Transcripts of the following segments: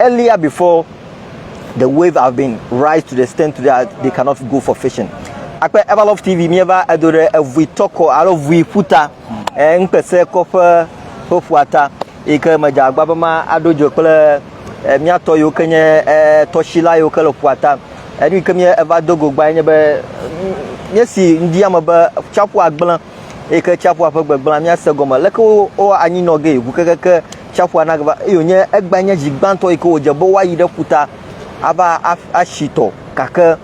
Earlier before the wave have been rise to the extent that they cannot go for fishing. Akpe Ever Love TV míeva edo ɖe evui tɔkɔ alo vui ƒuta eh, ŋkpese kɔƒe ƒe ƒuata yi ke medze agba be ma aɖo dzo kple eh, míatɔ yiwo ke nye eh, tɔsila yiwo ke le ƒuata. Enu yi ke mí eva do go gba nye be míesi ŋdi ame be tsiaƒua gblẽ yi ke tsiaƒua ƒe gbegblẽ míase gɔme leke wo wo anyi nɔ ge ŋu kekeke tsiaƒua nagava eye wònye egbea nye dzi gbãtɔ yi ke wòdze be woayi ɖe ƒuta ava atsi tɔ gake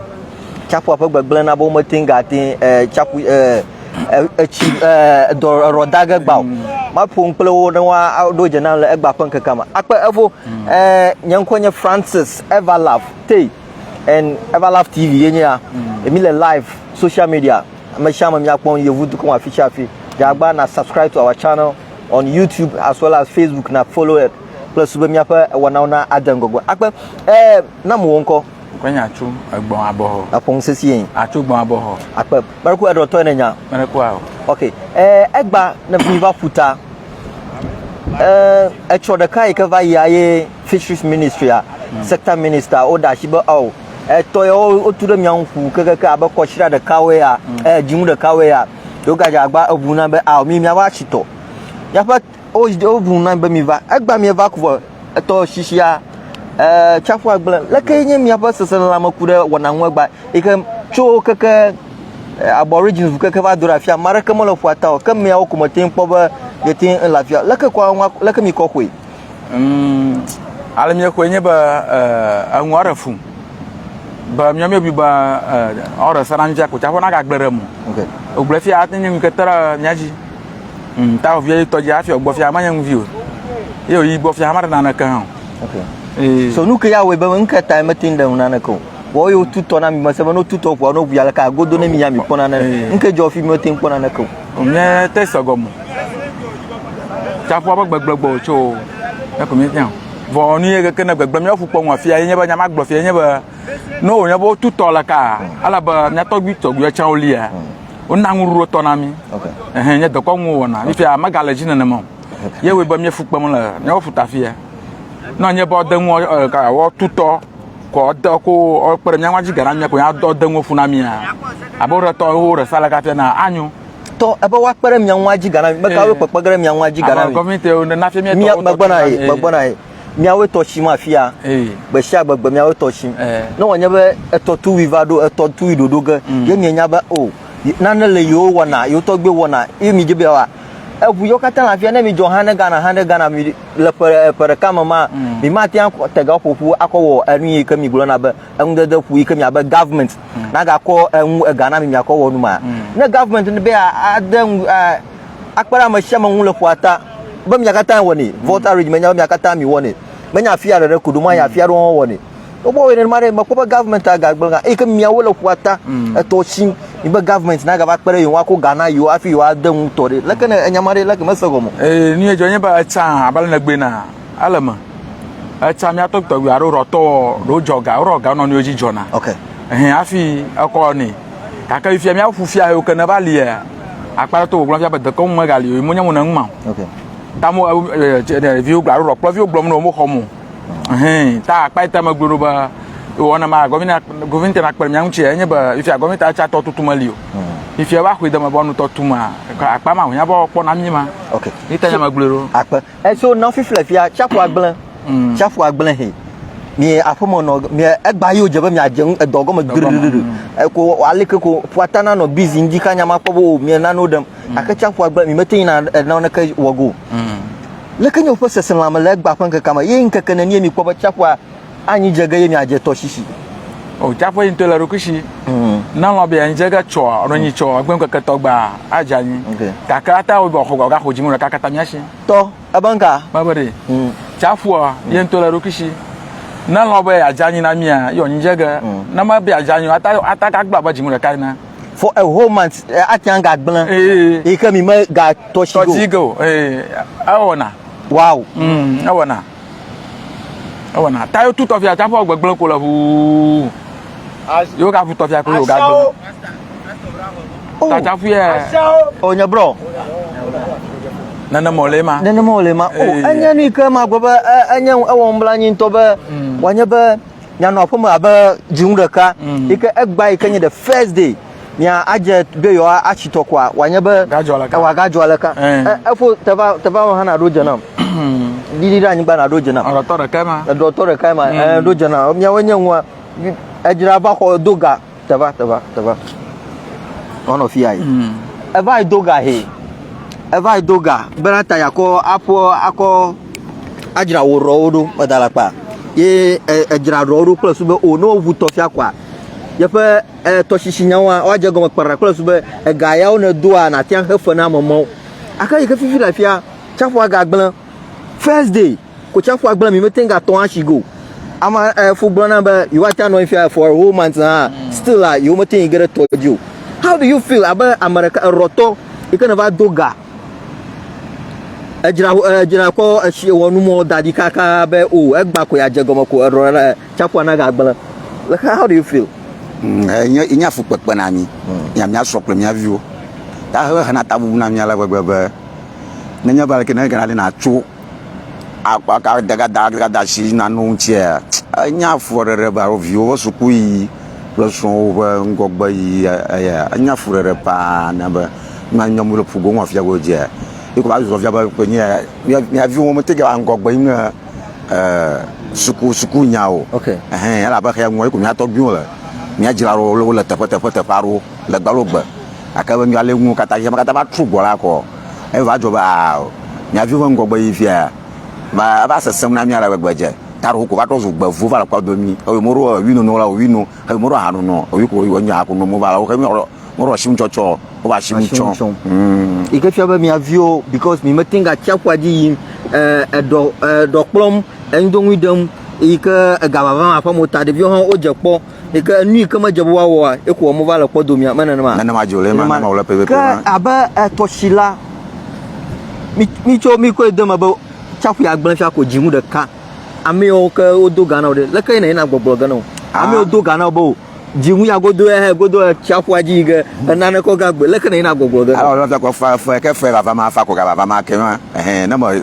tsiaƒua ƒe gbegblẽ na be womete ŋu gate ŋu eh, tsiaƒu eh, eh, etsi ɖɔ da ge gba o maƒo nu kple wo ne woaɖo dze nam le egba ƒe ŋkekea me akpe evo nye ŋkɔ nye francis evalaf te and evalaf tv ye nye ya emi le live social media Ame sia ame mia kpɔm yevu dukɔ afi sia afi. Dzagba na subscribe to our channel on YouTube as well as Facebook na follow it. Kple su be miaƒe wɔnawo na ade ŋgɔgbe. Akpe eh na mo ŋkɔ. Kwe nya tso egbɔn abɔhɔ. Akpɔ ŋu sesie. Atso gbɔn abɔhɔ. Akpe. Meɖeku eɖɔ tɔ ne nya. Meɖeku awo. Okay. Eh egba ne mi va ƒuta. Eh etsɔ ɖeka yi ke va yi aye fisheries ministry a hmm. sector minister o da shi be oh etɔ yawo wotu ɖe mia ŋu ƒu kekeke abe kɔtsira ɖekawoe ya eh, dzinu ɖekawoe ya yewogadze agba eʋu na be ao mi miava tsi tɔ miaƒe woʋu na be miva egba mieva ku vɔ etɔ shishia eh, tsaƒu agble leke nye miaƒe seselelãme ku ɖe wɔna ŋu egba yi ke tso keke eh, aborigines ŋu keke va do ɖe afia ame aɖeke mele ƒua ta o ke miawo ko mete ŋu kpɔ be yete ŋu le afia leke kɔ leke mi kɔ xoe Mm, ale míexɔe nye be eh, eŋu aɖe fum be míɔ míebi be eh, ɔɖe sena nu tsiaku tsaƒe nagagble ɖe mu wogblẽ fia ate nye ŋkete ɖe mía dzi mm, ta ovia yi tɔdzi afi ɔgbɔ fia menye ŋuvi o ye oyi gbɔ fia maɖe naneke hã o so nu ke ya wɔe be nu ke tae mete ŋu ɖe ŋu naneke o vɔ ye wotutɔ na mi mese be ne wotutɔ ʋua ne ʋua le ka godo ne mi ya mi kpɔna ne nu ke dzɔ fi mi mete ŋu kpɔna neke o Nye te se gɔme. Tsaƒua ƒe gbegblẽ gbɔ wòtso o. Eya ko míefia. Vɔ nu ye keke ne gbegblẽ míaƒu kpɔ ŋu afia ye nye be nya magblɔ fia nye be ne wònye be wotu tɔ le kaa, ele be mía tɔgbui tɔgbuiwo tsɛ wolia, wona nuɖuɖu tɔ na mí. Ɛhɛɛ, nye dekɔnu wowɔna. Fifia megale edzi nenema o. Ye wɔe be míefu kpem le míaƒe ƒuta afia. Ne enye be woade nu ɔ, ɔ, ka, wotu tɔ kɔ ɔde ko ɔkpe ɖe mía ŋu adzi gana mía ko ya dɔ de ŋu fu na mía abe wo ɖe tɔ wo ɖe sa le kafia na anyo tɔ ebe wa kpe ɖe mia ŋu adzi gana mi meka wo kpekpe ge ɖe mia ŋu adzi gana mi gɔmite wo na fia mia mia megbɔna yi megbɔna yi miawo tɔ tsi ma fia gbe sia gbe gbe miawo tɔ tsi ne wɔnye be etɔ tuwi va ɖo etɔ tuwi ɖoɖo ge ye mia nya be o nane le yewo wɔna yewo tɔgbe wɔna ye mi dze be wa eŋu yewo katã le afia ne mi dzɔ hã ne Ghana hã ne Ghana mi le ƒe eh, ƒe ɖeka me ma mm. mi ma te akɔ te ga ƒoƒu akɔ wɔ enu yi ke mi gblɔ na be eŋudede ƒu yi ke mi abe government mm. na ga kɔ eŋu eh, ega na mi mi akɔ wɔ nu ma mm. ne government be ade ŋu eh, akpara ame sia ame ŋu le ƒua ta be mi katã wɔ ne vote arrangement mi katã mi wɔ ne menya afia ɖe ɖe koɖo ma ya afia ɖe wɔwɔ ne wobɔ wɔ nenema ɖe mekpɔ be government agagblẽ ga eye ke miawo le ƒua ta mm. etɔ tsi mibe government na gava kpe ɖe yewo akɔ ga na yewo hafi yewo ade ŋu tɔ ɖe leke ne enyama ɖe leke mese gɔme. ee ni edzɔ nye be etsa abe ne gbe na ele me etsa miato tɔgbi alo rɔtɔ ɖo dzɔ ga rɔ ga nɔnɔewo dzi dzɔna. ok ɛhɛn hafi ekɔ ne gake fia miawo ƒu fia yewo ke ne va lia akpa to wògblɔ fia be dekɔ ŋu megali o mo nye mo ne ŋu ma. ok tamu eh, eh, eh, viwo gblɔ alo rɔ kplɔ viwo gblɔ mo ne wo mo xɔ mo. Hɛn, ta akpa ita me glo ba wɔna ma gɔvina gɔvina tena kpɛrɛ mia ŋutsi enye ba ifia gɔvina ta tsa tɔ tutu meli o. Hmm. Ifia ba xwe dama ba nu tɔ tu ma akpa ma hunya ba kpɔ na mi ma. Ok. Ita nya ma glo ro. Akpa. Eso na fi fle fia tsa fua gble. Hmm. Tsa fua gble he. Mi aƒe me nɔ mi egba yo dze be mi adze ŋu edɔ gɔme gbeɖeɖeɖe. Eko hmm. aleke ko fua ta na nɔ bizi ŋdi ka nya ma kpɔ bo mi nanu ɖem. Ake tsa fua gble mi mete yina enɔ neke wɔgo. Hmm. Leke nye woƒe seselãme le egbea ƒe ŋkekea me, eye ŋkeke nenie mikpɔ be tsiaƒua anyi dze ge eye miadze tɔsisi? O tsiaƒua yi ŋutɔ le eɖokui si. Mm. Ne alɔ̃ be yeanyi dze ge tsɔ alo nyi tsɔ egbe ŋkeke tɔ gbea, adze anyi. Okay. Gake ate ŋu be xɔ gaxɔ dziŋɔ ɖeka katã mía si. Tɔ, ebe ŋka? Mebe ɖe. Mm. Tsiaƒua yi ŋutɔ le eɖokui si. Ne alɔ̃ be yeadze anyi na mía, ye wòanyi dze ge. Mm. Ne mebe yeadze anyi o, ate ate agagblɔ abe dziŋɔ ɖeka ene. for a whole month eh, ate ŋu gagblẽ Ee. yi ke mi megatɔ tsi tɔdzi go ge o ee ewɔna wow Mm, ewɔna ewɔna ta yewo tu tɔfia tsaƒe wɔ gbegblẽ ko le ʋuu yewo gavu tɔfia ko yewo gagblẽ ta tsaƒu yɛ o nye brɔ nenema wòle ma nenema wòle ma o Ee. enye nu yi ke magblɔ be e- enye ewɔ nublanui ŋutɔ be wòanye be mianɔ aƒe me abe dzinu ɖeka mm. yi ke egba yi ke nye the first day mia adze be yewoa atsi tɔ koa wòanye be ewa gadzɔ aleka efo teva teva hã naɖo dze nam ɖiɖi ɖe anyigba naɖo dze nam eɖɔtɔ ɖekae ma eɖɔtɔ ɖekae ma eɖo dze nam miawo nye nua edzra va xɔ do ga Teva, teva, teva. One of you. Mm. Eva I do ga he. Eva I do ga. Bena ta ya ko apo ako ajira wo ro do padala pa. Ye ajira ro do kple sube o no vu to fia kwa. Ye pe e to shishi nya wa wa je go kpara kple sube e ga ya one do a na tian he fe na momo. Aka yi ke fifi la fia. Chapo aga gblen. First day. Kotsiaƒua gblẽ mi mete ŋu gatɔ atsi go. Ama eh, fu gblɔna be yewoate anɔ fia for a whole month hã mm. still a yewomete ŋu ge ɖe tɔ dzi o. How do you feel abe ame ɖeka erɔtɔ yi ke ne va do ga edzra edzra kɔ etsi wɔ numɔ da ɖi kaka be o oh, egba ko ya dze gɔme ko erɔ ɖe tsiaƒua na gagblẽ. How do you feel? Mm, eh, nye nye afukpekpe na mi mm. nya mia srɔ kple mia viwo. Ta hena tabubu na mi ale gbegbe be nenye be aleke ne gana ɖe na tso akpa akadadasi na nu ŋutia enye afuɖeɖe be alo viwo ƒe sukuyiyi kple srɔ̃wo ƒe ŋgɔgbeyiyi eya enye afuɖeɖe paa na be nu ma nyɔm le ƒu gom afi ya godzia ye kɔ va susɔ fia be ƒe nye ya mia viwo womete va ŋgɔgbe yim ne e suku sukunya o. Ok. Ehɛn elabe xeya ŋua ye ko mia tɔgbuiwo le mia dzra ɖo wole teƒe teƒe teƒe aɖewo. le gbe alo gbe gake be ale nuwo katã dzi be katã va trɔ gbɔ la kɔ eva dzɔ be aa mia viwo ƒe ŋgɔgbe yi fia va eva sesẽ na mia le gbegbe dze ta ɖo ko va trɔ zu gbevu va le kpɔ do mi eye mo ɖo wi nono la wi no eye mo ɖo ha nono wi ko wi nya ko no mo va la wo xe mi ɔlɔ mo ɖo asim tsɔtsɔ wo va asim tsɔ mm yi ke fia be mia viwo because mi mete ga tsia ƒua dzi yim eh, eɖɔ eɖɔ kplɔm eŋdonui ɖem yi ke ega vava ma ƒe mo ta ɖeviwo hã wodze kpɔ Yi ke nu yi ke medze be woawɔ oa, ye ko wɔm wova le kpɔ domea, me nenema? Nenema dzi o, le ema Nenema. nɔnɔ wòle pɛpɛpɛ Ke ma. abe eh, tɔsila, mi mi tso mi koe de me be tsaƒu ya gblẽ fia ko dzi ŋu ɖeka. Amewo ke wodo ga na wò ɖe, leke yi nèyina gbɔgblɔ ge na wò? Ah. Amewo do ga na wò be o, dzi ŋu ya godo ya hɛ godo eh, tsaƒua dzi yi ge eh, nane kɔ ga gbe, leke nèyina gbɔgblɔ ge na wò? Alɔ lɔ fia ko fa fe ke fe vava ma fa ko ga vava ma ke ma. Ehɛn, ne me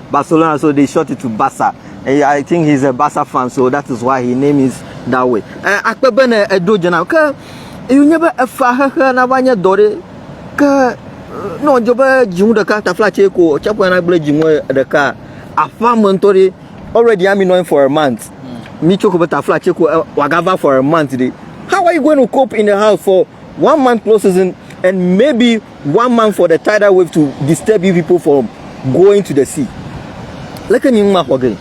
Barcelona, so they short it to Barca. Eh, I think he's a Barca fan, so that is why his name is that way. Eh, akpe be ne eɖo dze na ke yonye be efa xexe na va nye dɔ ɖe ke eh, nɔ dzo be dzinu ɖeka tafla tse ko tsaƒe na gble dzinu ɖeka aƒa me ŋutɔ ɖe already ami nɔ for a month hmm. mi tso ko be tafla tse ko eh, wagava for a month ɖe how are you going to cope in the house for one month close season and maybe One month for the tidal wave to disturb you people from going to the sea. Leke mi ŋma xɔ ge?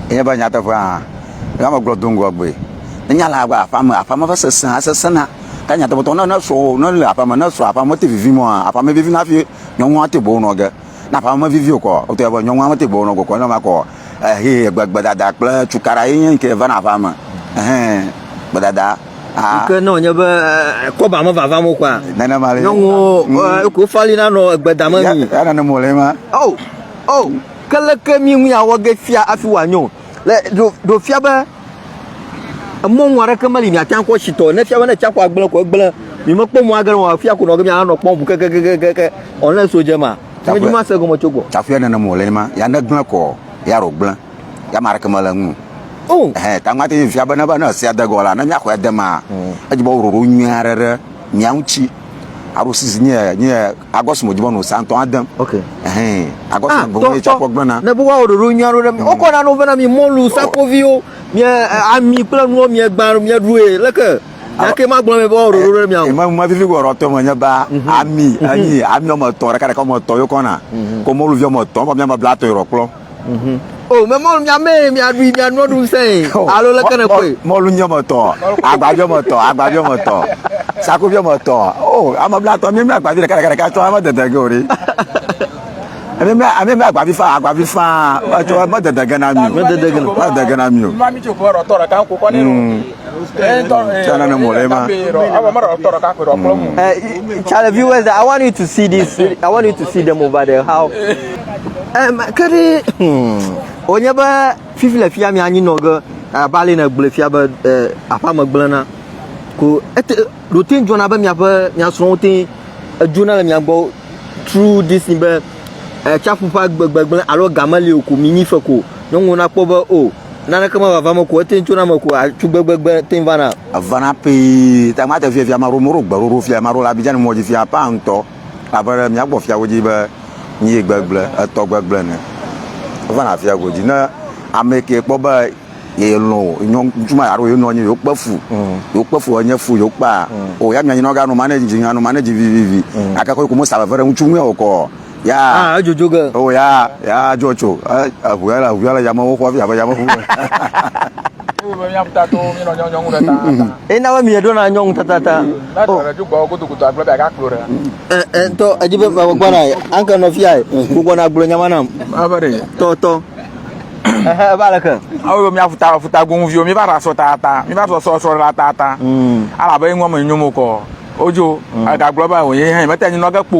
Enye be nyateƒe hã, ne ame gblɔ do ŋgɔ gbe. Ne nya le agba aƒea me, aƒea me va sesẽ, asesẽna. Ke nyateƒetɔ, ne ne srɔ̃wò, ne le aƒea me, ne srɔ̃ aƒea me te vivim aa, aƒea me vivina hafi nyɔnua te boŋ nɔ ge. Ne aƒea me vivi o kɔ, wotɔ be nyɔnua mete gbe wonɔ gɔkɔ ne ma kɔ. Ehe gbedada kple cukaɖa ye nye ke vana aƒea me. Ehe gbedada. Ah. Ke ne wònye be eh, kɔba me vava mo kɔa. Nenema le. Nyɔnuwo mm. eh, ko fali na nɔ egbeda me mi. Ya nane mo le ma. Oh. Oh. Ke leke mi ŋu awɔ ge fia afi wòanyo. Le ɖo ɖo fia be Emɔ ŋu aɖeke meli miate ŋu akpɔ tsitɔ ne fia be ne tsiaƒua gblẽ ko egblẽ. Mi mekpɔ mɔ age nɔ afia ko nɔ ge mi anɔ kpɔm ŋu kekekekeke ɔ ne so dze ma. Tame dzi ma se gɔme tso gbɔ. Tsaƒua nene mo le ne ma ya ne gblẽ kɔ ya ɖo gblẽ ya ma aɖeke mele ŋu. Oh. Ehe, ta ŋmate ŋu fia be ne be ne sia degɔ la ne miaxɔ ya de ma. Mm. Edzi be woɖoɖo nyui aɖe ɖe mia ŋuti. Aɖo sisi nye nye Agɔs mo jibɔ no sa ŋutɔ ade. Ok. Ɛhɛn. Agɔs ah, mo gɔn etsɔ kpɔ gblena. Ne buwa o ɖoɖo nyuia ɖo ɖe mi. Mm. Wokɔ na no vena mi mɔlu, sakoviwo, mi ami kple nuwo mi gba mi ɖue. Leke Yake ma gblɔ mi be o ɖoɖo ɖe mi awo. Ma ma vivi go rɔtɔ me nye ba mhm. ami ami ami o me tɔ ɖeka ɖeka o me tɔ yo kɔna. Mhm. Ko mɔlu vi o me tɔ o me bla tɔ yo kplɔ. Mhm. O mɛ mɔlu mia mɛ mia ɖui mia nua ɖu sɛ alo leke ne koe. Mɔlu nyɔ me tɔ, agba biɔ me tɔ, agba biɔ me tɔ, saku biɔ me tɔ. O ame bla tɔ mi mi agba bi ɖeka ɖeka ɖeka tɔ ame dede ge o ɖi. Ami mi ami mi agba bi fa agba bi fa tɔ ame dede ge na mi. Ame dede ge na mi. Ame dede ge na mi o. Mi mi tso fɔ rɔ tɔ ɖeka ko kɔ ne. Charlie, viewers, I want you to see this. I want you to see them over there. How? Um, could it? Hmm. Onye be fifi le fia mi anyi nɔ ge abali ne gble fia be eh, aƒa me gble na ko ete ɖo te dzɔna be miaƒe miasrɔ̃wo te edzona le mia gbɔ through this thing be eh, tsaƒu ƒe gbegbe gble alo game li o ko mi nyi fe ko nyɔnuwo nakpɔ be o. Oh, Naneke mevava me ko ete ŋu tsona me ko atsu gbegbegbe te ŋu vana. Evana pee. Ta mate fia fia maɖo moɖo gbeɖoɖo fia maɖo le Abidjan mɔ dzi fia paa ŋutɔ. Abe ɖe mía gbɔ fiawo dzi be nyie gbegble etɔ gbegble ene. Evana fia godzi ne ame ke kpɔ be ye lɔn o nyɔ ŋutsu ma alo ye nɔ anyi yewo kpe fu. Yewo kpe fu enye fu yewo kpea o ya mia nyinɔ ga nɔ manage dzi anɔ manage vivivi. Ake ko ko mo sa veve ɖe ŋutsu ŋu ya o kɔ. yaa ah edzodzo ge o yaa yaa dzo tso eʋua le eʋua le yamewo xɔ fi abe yameʋu me. ena be miɖo na nyɔnu tatata tɔ edzi be gbɔ na anke nɔ fia gbogbo na gblɔ nyama nam tɔ tɔ ebe aleke awo be miaƒu ta ƒuta goŋviwo mi va ɖa sɔ tata mi va sɔ sɔ sɔ ɖa tata alabe ŋɔ me nyomo kɔ odzo egagblɔ ba wòye hɛn mete nyinɔ ge kpo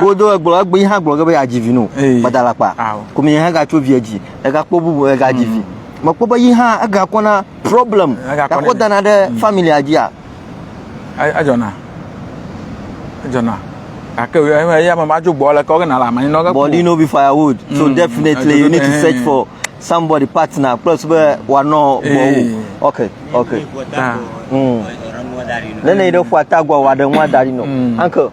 wo do egblɔ egbe yi hã gblɔ ge be yeadzi vi no gbadalakpa komi yi hã gatso via dzi egakpɔ bubu egadzi vi mekpɔ be yi hã egakɔ na problem gakɔ dana ɖe mm. familia dzia. edzɔna edzɔna gake eya mama dzo gbɔ le kɔ gena le amanyi nɔ. but you know be firewood so mm. definitely you need to search for somebody partner plus be wanɔ gbɔwo ok ok. nene yi ɖe ƒua tagua wa ɖe ŋua da ɖi nɔ uncle.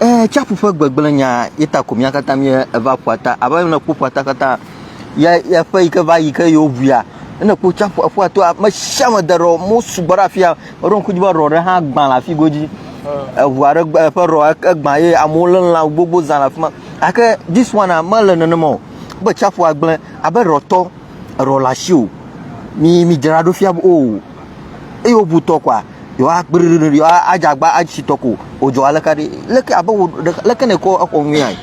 Ee, tsiaƒu ƒe gbegblẽ nya ye ta ko mía katã míeva ƒua ta. Abe ne kpɔ ƒua ta katã, ya ya ƒe yi ke va yi ke yewo ʋuia, ne kpɔ tsiaƒu ƒua to ame sia ame de rɔ mo sugbɔ ɖe afia. Eɖo ŋku dzi be rɔ ɖe hã gbã le afi godzi. Eʋu aɖe gbe eƒe rɔ egbã ye amewo lé lã gbogbo zã le afi ma. Ake this one a mele nenema o. Be tsiaƒua gblẽ abe rɔtɔ rɔ le asi o. Mi mi dzra ɖo fia be o. Eyo ʋutɔ kwa. yewoakpli ɖoɖo ɖi yewoadze agba atsi tɔ ko o dzɔ aleke aɖi leke abe wò ɖe leke nèkɔ exɔ nyuiae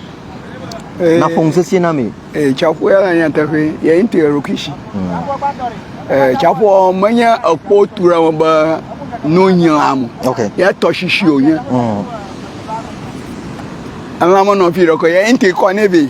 naƒo ŋusesẽ na mee. Ee, tsaƒua le nyateƒe ye ŋutɔ ye ɖokui si. Ee, tsaƒua menye ekpo tu ɖe me be nu nyla mo. Ok. Ye tɔsisi wònye. Mm. Elã menɔ fi ɖe ko ye ŋutɔ kɔ nɛ vɛ.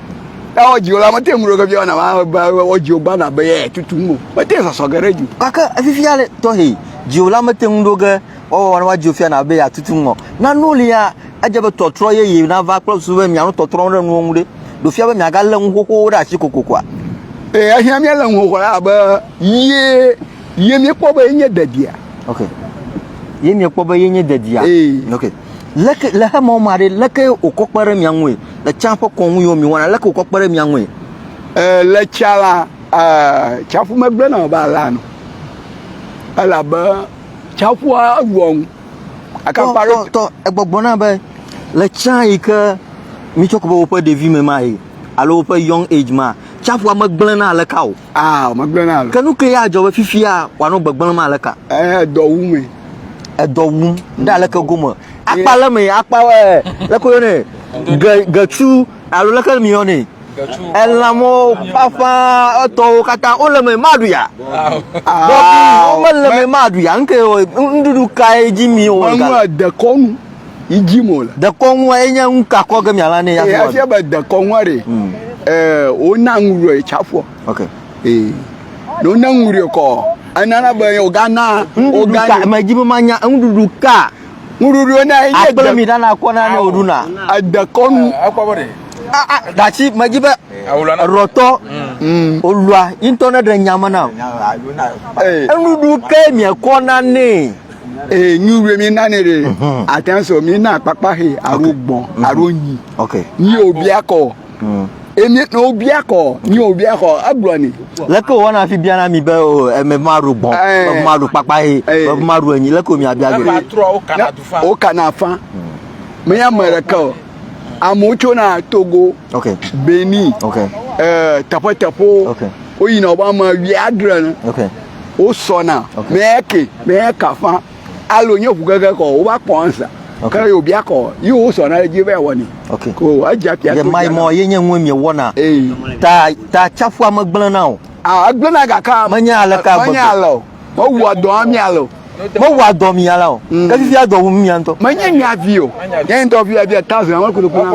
Ya wodziwo la, mete ŋu ɖo ke biana ma be wodziwo gbana be yɛ tutum o. Mete ŋu sɔsɔ ge ɖe dzi. Gake efifia le tɔxɛ. Dziwo la mete ŋu ɖo ge wɔwɔ ne woadziwo fiana be yeatutum o. Nanewo li ya edze be tɔtrɔ yeye nava kple susu be miano tɔtrɔ ɖe nuwo ŋu ɖe. Ɖe wòfia be miagalé nu xoxowo ɖe asi kokokoa? Ee, ehiã míalé nu xoxo ɖe abe ye ye míekpɔ be yenye dedia. Ok. Ye miekpɔ be yenye dedia. Ee. Ok. Leke le xemɔ mea ɖe, leke wòkɔ kpe ɖe mia ŋue? Le tsã ƒe kɔnu yiwo miewɔna, leke wòkɔ kpe ɖe mia ŋue? Ɛɛ, le tsã la, ɛɛ, tsaƒu megblẽna o be alé anɔ. Elabe tsaƒua wua ŋu. Akakpa ɖe. Tɔ, egbɔgblɔna be le tsã yi ke mitsɔ ku be woƒe ɖevime mae alo woƒe young age mea, tsaƒua megblẽna aleka o. Aa, megblẽ na alo. Ke nu kae adzɔ be fifia wòanɔ gbegblẽm aleka? Ee, edɔ wum me. Edɔ wum. Ɖe aleke gome? Akpa le me, akpa ɛ, leke woyɔnɛ? Ge, getsu alo leke miyɔnɛ? Getsu. Elãmɔ ƒaƒã etɔwo katã wole me maɖu ya. Bɔbi, womele me maɖu ya. Nuke nuɖuɖu kae dzi mi wɔ? Manu dekɔnu. yi dzi mo le. Dekɔnua ye nye nu ka kɔ ge mia la ne ya. Eya fia be dekɔnua ɖe. Hmm. Ɛɛ wo na ŋu ɖe tsa fɔ. Ok. Ee. Ɖo ne ŋu ɖe kɔ. Ena na be o ga na. O ga na. Mɛ dzi be ma nya ŋu ɖuɖu ka. Ŋu ɖuɖu na ye. Akple mi ɖana kɔ na ne o ɖu na. Edekɔnu. Ekɔ bɔ ɖe. Ah ah dati mɛ dzi be. Rɔtɔ. Hmm. O lua. Intɔ ne ɖe nya me na. Enu ɖu ke mi kɔ na ne. ee nyu wue mi nane re mhm. atenso mi na kpakpa he aro gbɔn mhm. aro nyi nyi obi akɔ mhm. emi na obi akɔ nyi obi akɔ agblɔ ni. leke wo wana fi biana mi be o eme ma ro gbɔn be ma ro kpakpa he be ma ro enyi leke mi abia gbe. o kana fa mi ya me ɖeka o amewo tso na togo benin ɛɛ eh, tɛƒetɛƒewo woyina wobe ame wia adre ne. wosɔna mɛke mɛka fã alo nye ʋu gege kɔ wova kpɔ ansa ke yóò bia kɔ yi wosɔna ɖe dzi va wɔ ni ko edza pia to mai mɔ ye nye ŋue mie wɔna ta ta tsaƒua me gblẽna o agblẽna gaka menye aleka menye alɔ mewua dɔ ami alɔ mewɔa dɔ mi ya la o mm. ke fifia dɔ wum mia ŋutɔ. menye mia vi o nye ŋutɔ vi ya via thousand awon kodo kuna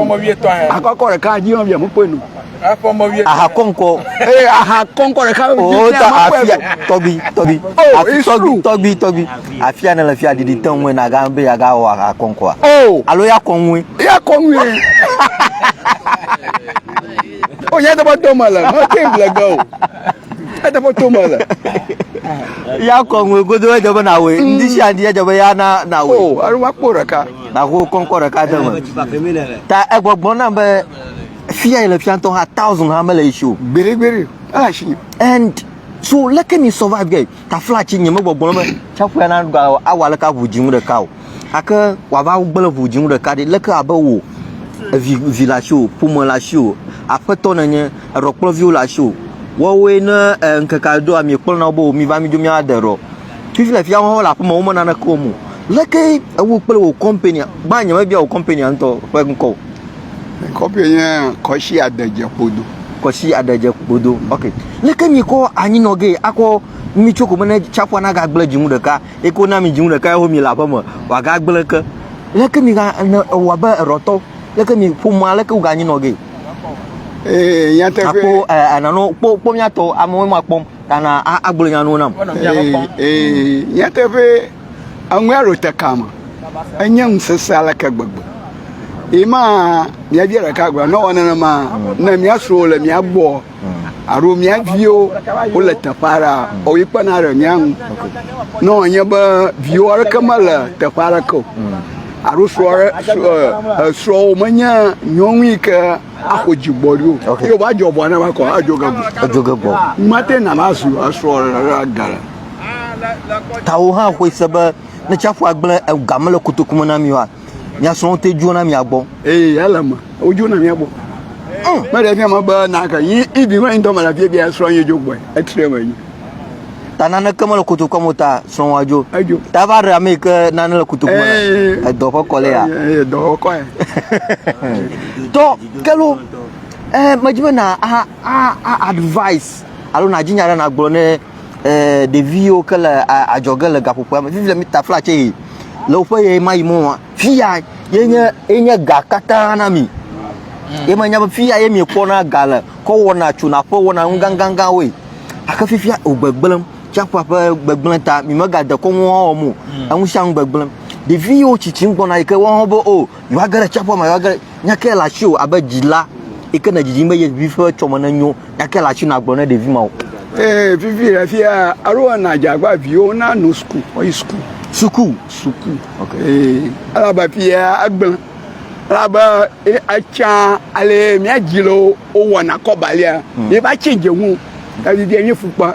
akɔkɔ ɖeka dzi via mekpɔe nu. aha kɔnkɔ. ee aha kɔnkɔ ɖeka dzi oh, via mekpɔe nu. tɔgbi tɔgbi oh, afi tɔgbi tɔgbi tɔgbi afi ya ne le fi ya ɖiɖi te ŋue na ga be ya ga wɔ aha kɔnkɔa. o oh. alo ya kɔ ŋue. ya kɔ ŋue. o ya dɔbɔ dɔmɔ le mɔ te ŋgble ge o. Ede ƒe to me le. Ya kɔ ŋue godo edze be na woe. Ndi sia ndi edze be ya na na woe. O, alo wa kpɔ ɖeka. Na ho kɔnkɔ ɖeka de me. Ta egbɔgbɔ na be fia ile fia ntɔ ha thousand ha mele ishi o. Gbere gbere. Ala shi. And so leke ni survive guy. tafla tsi nye megbɔgblɔ be tsiaƒua na ɖa awɔ aleke aʋu dzinu ɖeka o gake wòava gblẽ ʋu dzinu ɖeka ɖi leke abe wò evi vi le asiwò ƒome le asiwò aƒetɔ nènye eɖɔkplɔviwo le asiwò woawoe ne e, ŋkeke aɖe doa miekpɔ na wo be miva midzo míade ɖɔ fifi le fia wo le aƒeme wome naneke wɔm o leke ewo kple wò kɔmpania gbã nyemebia wò kɔmpania ŋutɔ ƒe ŋkɔ o Kɔƒe nye kɔshi adedze kpodo. Kɔshi adedze kpodo. Ok. Leke mi kɔ anyi nɔ ge akɔ mi tso ko mene tsaƒua na ga gble djinu ɖeka. Eko na mi djinu ɖeka eho mi le aƒe me. Wa ga gble ke. Leke mi ga ne ewa be erɔtɔ. Leke mi ƒo ma leke ga anyi nɔ ge. Ee, eh, nyateƒe. Akpo, eh, anano, kpo, kpo miatɔ, amewo ma kpɔm, tana, agblɔ nyanuwo nam. Ee, eh, eh, nyateƒe. Eŋue ɖo te ka me. Enye ŋusese aleke gbegbe. Yi ma mia bia ɖeka gblɔ ne wɔ nenema ne mia srɔ̃wo le mia gbɔ alo mia viwo wo le teƒe aɖe a o yi kpena ɖe mia ŋu. Ne wònye be viwo aɖeke mele teƒe aɖeke o alo srɔ̃ aɖe srɔ̃ srɔ̃wo menye nyɔnu yi ke Ako dzi gbɔ ɖo. Ok. Yo ba djɔ bɔ na ba kɔ a djo gago. Edjo ge gbɔ. Mate na ba su a sɔ ra gara. Tawo hã xoe se be ne tsiaƒu agblẽ e, ga mele kotoku me na mi oa, mia srɔ̃wo te dzoa na mia gbɔ. Eye ele me. Wo dzoa na mia gbɔ. Mm. Me ɖe fia me be na ke yi ibi me ŋdɔ me la fia bia srɔ̃ ye djo gbɔe. Etre me yi. ta naneke mele kotokua me ta srɔ̃wɔa dzo edzo ta va ɖe ame yi ke nane le kotoku me edɔ ƒe kɔlɛ ya edɔ ƒe kɔlɛ tɔ kelo ɛɛ eh, medzi be na a a a advice alo na dzinya ɖe na gblɔ ne ɛɛ eh, ɖeviwo ke le adzɔge le gaƒoƒoa me vivi le mi ta flatse yi le woƒe ɣe ma yi mɔ Fia ye nye ye nye ga katã na mi. Ye menya be fia ye miekpɔna ga le kɔ wɔna tsona ƒe wɔna nu gãgãgãwoe. Gake fifia wògbegblẽm. Tsiaƒua ƒe gbegblẽ ta mi megade kɔnu hã wɔm o. Enu sia nu gbegblẽm. Ɖevi yiwo tsitsim gbɔna yi ke woawo hã be o yewoage ɖe tsiaƒua me yewoage ɖe. Nya kae le asiwò abe dzila yi ke nèdidim be ye vi ƒe tsɔme nenyo Gake la tsi na gblɔ ne ɖevi ma o. Ee, vivi le fia alo na dzagba viwo na no suku, oyi suku. Suku. Suku. Ok. Ee, ala ba fia agble. Ala ba e acha ale mia jilo o wana kobalia. Hmm. E ba chenje wu. Ka vivi enye fukpa.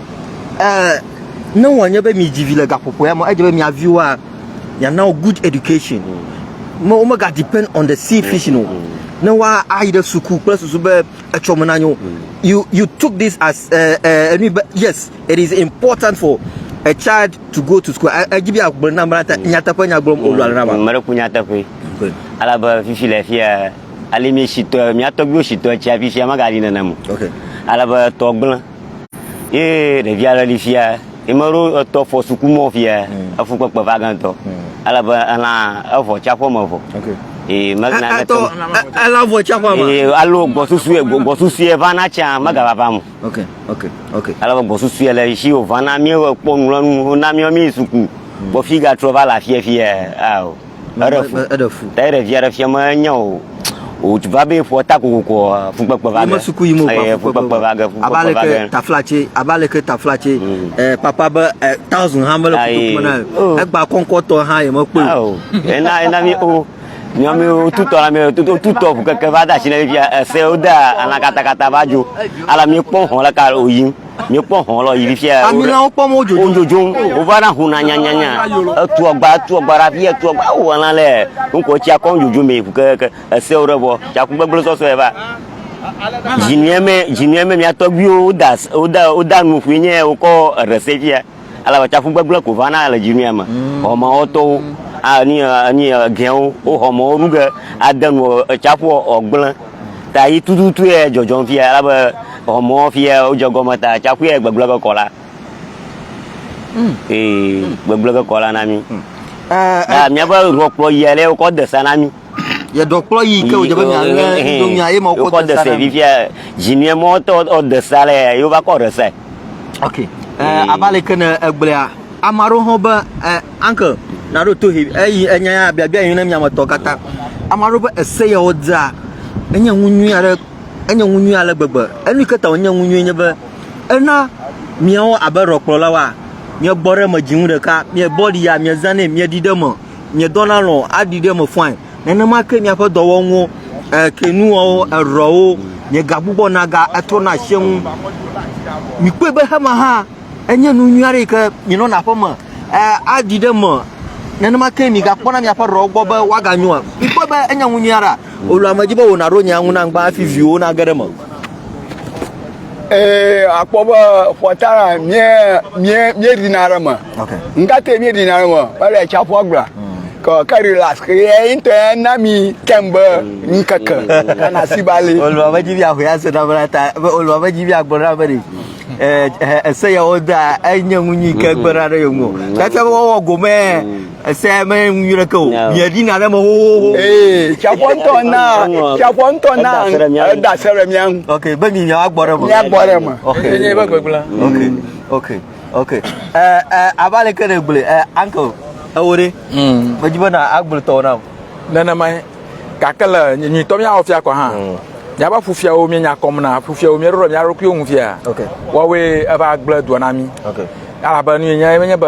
Uh, ne wòanye be miedzi vi le gaƒoƒoea me, edze be mia viwoa, miana wo good education. Me womega depend on the sea fishing o. Ne woa ayi ɖe suku kple susu be etsɔ me na nyo. You you took this as uh, uh, enu be yes, it is important for a child to go to school. E- Edzi be agblɔ na mla ta nyateƒe nya gblɔm o lɔle na ma. Mele ku nyateƒe. Okay. Alabe fifi le fia, ali mi shitɔ, mia tɔgbiwo shitɔ tsia fifia magali nenam. Okay. Alabe tɔ gblẽ. Ye ɖevi aɖe li fia, yi me ɖo etɔ fɔ suku mɔ fia, mm. efu kpekpe va gantɔ. Mm. Ale be elã evɔ tsaƒe me vɔ. Okay. Ee megana ne tɔ. Elã vɔ tsaƒe me. Ee alo gbɔsusu ye gbɔsusu ye vana tsa mega va va mo. Okay. Okay. Okay. Ale be gbɔsusu ye le si o vana mi kpɔ nulɔnu na mi mi suku. Bɔ mm. fi ga trɔ va la fia fia. Ao. Eɖe fu. Eɖe fu. Ta eɖe via ɖe fia me enya o. O va be ƒua ta kokoko fukpekpe va ge. Ime suku yi mo va eh, fukpekpe va ge. Fukpekpe va ge. Aba leke tafla tse, aba leke tafla tse. Mm. Eh, papa be eh, thousand ha mele fukpekpe na. Oh. Egba kɔnkɔtɔ ha ye me kpe. Oh. Ena ena mi o. nyɔmi wotutɔ la mɛ wotutɔ ʋu keke va da asi na mi fia ese woda alã katakata va dzo ala mi kpɔ xɔ la ka oyim Míekpɔ hɔ̃ lɔ yi fifia. Amilãwo kpɔm wo dzodzom. Wo dzodzom. Wova na huna nyanyanya. Etu agba, etu agba ɖe afi, etu agba. Wo wɔna lɛ. Ŋkɔ tsia kɔm dzodzom me ku keke. Esewo ɖe vɔ. Tsaku gbegble sɔsɔe va. Dzinue me, dzinue me mia tɔgbuiwo woda woda woda nu ƒui nye wokɔ eɖe se fia. ale be tsaƒu gbegblẽ ko va na le dzi nɛ me. Xɔmewɔtɔwo ani ani egɛwo wo xɔmewo ɖu ge ade nu etsaƒu wògblẽ ta yi tututu ye dzɔdzɔm fia ale be xɔmewɔ fia wodze gɔme ta tsaƒu ye gbegblẽ ge kɔ la. Hmm. Ee, hmm. gbegblẽ ge kɔ la na mi. Hmm. Eh, eh. Míaƒe ɖɔkplɔ yi ale wokɔ de sa na mi ye dɔkplɔ yi ke wòdze be mialé domia ye ma wokɔ de sa ɖe fifia dzinuiemɔtɔ ɔde sa le ye wova kɔ ɖe sa ok eh, abe aleke ne egblẽa ame aɖewo hã be eh, uncle naɖo to he eyi enya ya biabia yi ne miametɔ katã ame aɖewo be ese ya wodzea enye ŋu nyui aɖe enye ŋu nyui ale gbegbe enu ke ta wònye ŋu nyui nye be ena miawo abe ɖɔkplɔlawoa miebɔ ɖe me dzi ŋu ɖeka miebɔ ɖi ya miezanɛ mieɖi ɖe me nye dɔna lɔ aɖi ɖe me fɔae nenema ke miaƒe dɔwɔnuwo kenuawo erɔwo nye ga gbugbɔ na ga etrɔ na asie ŋu mikpɔe be hema hã enye nu nyui aɖe yi ke minɔna aƒe me aɖi ɖe me nenema ke migakpɔna miaƒe rɔwo gbɔ be woaganyoa mikpɔe be enye nu nyui aɖe Wòlɔ̃ ame dzi be wò nàɖo nyea ŋu nam gbã hafi viwòwo nage ɖe eme. Ee, akpɔ be xɔta la míeɖina ɖe me. Ŋkate míeɖina ɖe me, mele atsiaƒua gbla. Ke ke relax, ke ye ŋutɔ na mi tem be ŋkeke kana si ba li. Olua be dzivi ahoe ase na bla ta, be olua be dzivi agblɔ na be ese ya woda enye ŋu nyui ke gbe ɖa ɖe yeŋu. Tete be wɔwɔ gome Ese me ŋu yɔ ɖeke o. Mie ɖi na ɖe me xoxoxo. Ee, tsaƒɔ ŋutɔ na, tsaƒɔ ŋutɔ na, eda se ɖe mía ŋu. Ok, be mi mia gbɔ ɖe me. Mia gbɔ ɖe me. Ok. Enye eƒe gbegblẽ. Ok, ok, ok. Ɛ, ɛ, ava le ke ne gblɔe, ɛ, uncle, ewo ɖe. Mm. Medzi be na agblɔ tɔwo nam. Nenema ye. Gake le nyuitɔ mía wɔ fia kɔ hã. Mm. Míaƒe ƒufiawo mía nya kɔm na, ƒufiawo mía ɖo ɖe mía ɖokuiwo ŋu fia. Ok. Wɔwoe eva gblẽ dua na mí. Ok. Alabe nu yenye, ye menye be.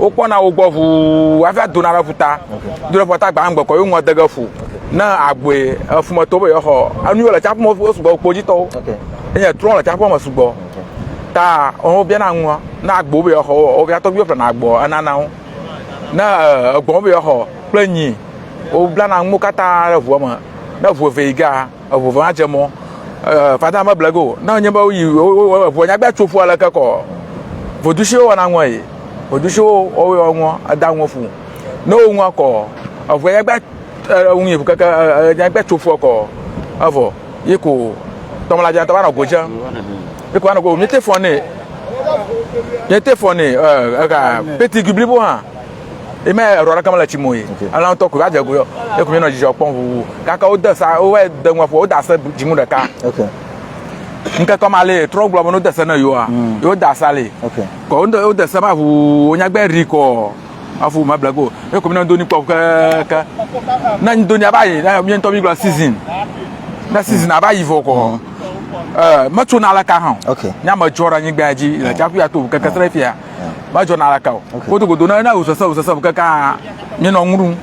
wokpɔna wo gbɔ ʋuu hafi adona ɖe ƒuta. Do ɖe ƒuta gbãgbe kɔ yewo ŋɔ de ge ƒu. Ne agbɔe efumetɔ be yewoaxɔ enu yiwo le tsaƒu me wo sugbɔ kpodzitɔwo. Enye trɔ le tsaƒua me sugbɔ. Ta wobiana nua ne agbo be yewoaxɔ wo woƒe tɔgbuiwo ƒlena agboa enana wo. Ne egbɔ̃ be yewoaxɔ kple nyi woblana nuwo katã ɖe ŋua me. Ne ŋu eve yi gea eŋu va dze mɔ eh, fada me blego ne nye be woyi ŋua nyagba tso ƒua le ke kɔ vodusiwo wɔna ŋua yi vodusiwo wɔwɔ wɔ ŋua eda ŋua fu ne wo ŋua kɔ eŋua nyagba eŋu yi keke nyagba tso ƒua kɔ evɔ yi ko tɔmla dza tɔ va nɔ godze yi ko va nɔ godze mi te fɔ ne mi te fɔ ne eh, ega peti giblibo hã. yi me eɖɔ ɖeke mele tsi mo yi ela ŋutɔ ko va dze go yɔ eku mi nɔ dzidzɔ kpɔm ʋuʋu kaka wo de sa wo va de ŋua ƒo wo da se dzinu ɖeka ŋkekɔ ma le trɔ gblɔ be no de se ne yoa mm. yo da sa le kɔ wo de wo de se ma ʋuʋu wo nyagbe ri kɔ afu ma blago eku mi nɔ doni kpɔ ke ke na doni aba yi na mi ŋutɔ mi gblɔ season na season aba yi vɔ kɔ mm. eh, metsona le ka hã nyamedzɔ ɖe anyigba dzi le tsaƒu ya to keke srɛ fia medzɔ na alaka o godogodo ne na wosese wosese kaka mi nɔ ŋu ɖum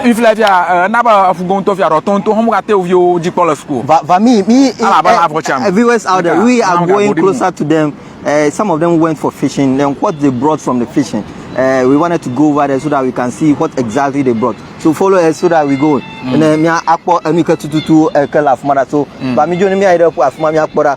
ifilɛ fia ena be afugɔntɔ fia rɔtɔ ŋutɔ hɔn ka te oviwo dzi kpɔ le suku va va mi mi alaba la afɔ cham viewers out there we are going closer to them uh, some of them went for fishing then what they brought from the fishing uh, we wanted to go over there so that we can see what exactly they brought so follow us so that we go mm. ne mia akpɔ enu ke tututu ke le afuma da so va mi dzo ne mia yi ɖe afuma mia kpɔ da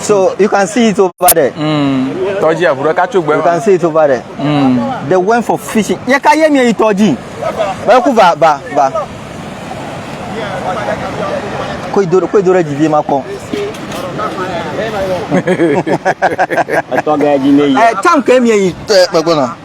So you can see it over there. Mm. Tɔdzi avu ɖeka tso gbe. You can see it over there. Mm. They went for fishing. Ye ka ye mie yi tɔdzi. Bɛ ku va va va. Ko yi do ko yi do ɖe dzi vie ma kɔ. Etɔ gɛ dzi ne yi. Ɛ tank mie yi tɛ kpekpe na.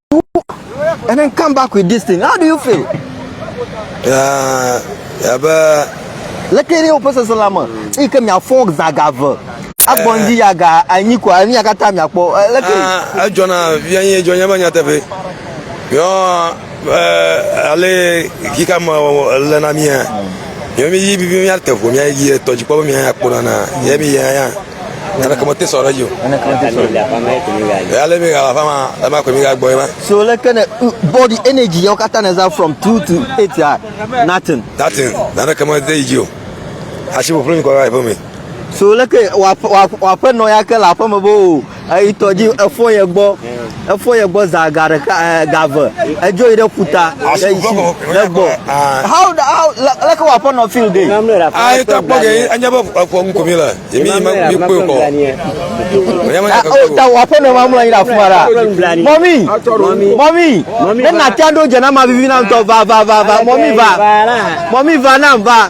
and then come back with this thing. How do you feel? Yeah, yeah, but. Like any person, Salama, he came here for Zagava. agbɔnji yaga anyi ko anyi yaga ta mia kpɔ leke. edzɔna via nyi edzɔ nyama nyateƒe yɔ ale kika ma le na mia yɔ mi yi bibi mia te ƒo mia yi tɔdzi kpɔ mia ya kpɔ nana yɛ mi ya ya. Neneke mete sɔ ɖe dzi o. Neneke mete sɔ ɖe dzi o. Yale mi gala fama, lama kwe mi ga gbɔ ma. So leke ne body energy yɔ kata ne za from 2 to 8 ya. Nothing. Nothing. Neneke mete yi dzi o. Asi bo flo mi ko ga ipo mi. So leke wa wa wa pe no ya ke la pe me bo. Ayi tɔ dzi efo ye gbɔ. efɔ ye gbɔ za ga ɖeka eh, ga ve edzo yi ɖe ƒuta ɖe yi si ɖe gbɔ how how leke wɔ aƒenɔ feel de. ayi ta kpɔ ge anya be efɔ ŋkɔ mi le yemi yi mi kpe kɔ. o ta wɔ aƒenɔ ma mlɔ anyi ɖe afuma ɖa mɔmi mɔmi ne natia ɖo dze na ma vivi na ŋutɔ va va va va mɔmi va mɔmi va na va.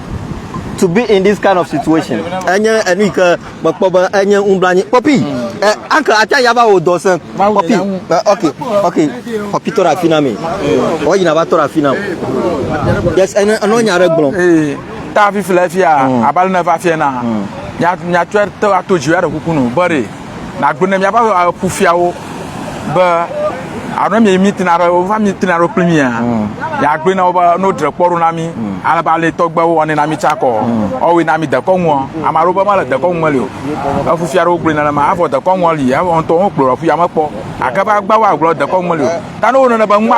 to be in this kind of situation. Enye enu yi ke mekpɔ be enye ŋublanye. Pɔpi, mm. eh, uncle ate ya va wò dɔ se. Pɔpi, eh, ok, ok, pɔpi tɔ ɖe afi na mi. Mm. Wɔ yina va tɔ ɖe afi na. Yes, ene enɔ nya ɖe gblɔm. Eh, ta afi fi le fia, mm. abali ne va fia na. Nyatsɔe te ato dzi ya ɖe kuku nu, bɔre. Nagblɔ ne míaƒe eh, kufiawo be alo mi mi tina ɖe wova mi tina ɖe kpli mia mm. ya gbe na wo be no dre kpɔ ɖo na mi mm. ale ba le tɔgbe wo ne na mi tsa kɔ mm. ɔwe na mi dekɔ ŋua ama ɖo be ma le dekɔ ŋua li o efu fia ɖo gbe na ma afɔ dekɔ ŋua li ya ŋtɔ wo kplɔ fu ya me kpɔ akaba gba wa gblɔ dekɔ ŋua li o ta no wo ne be ŋma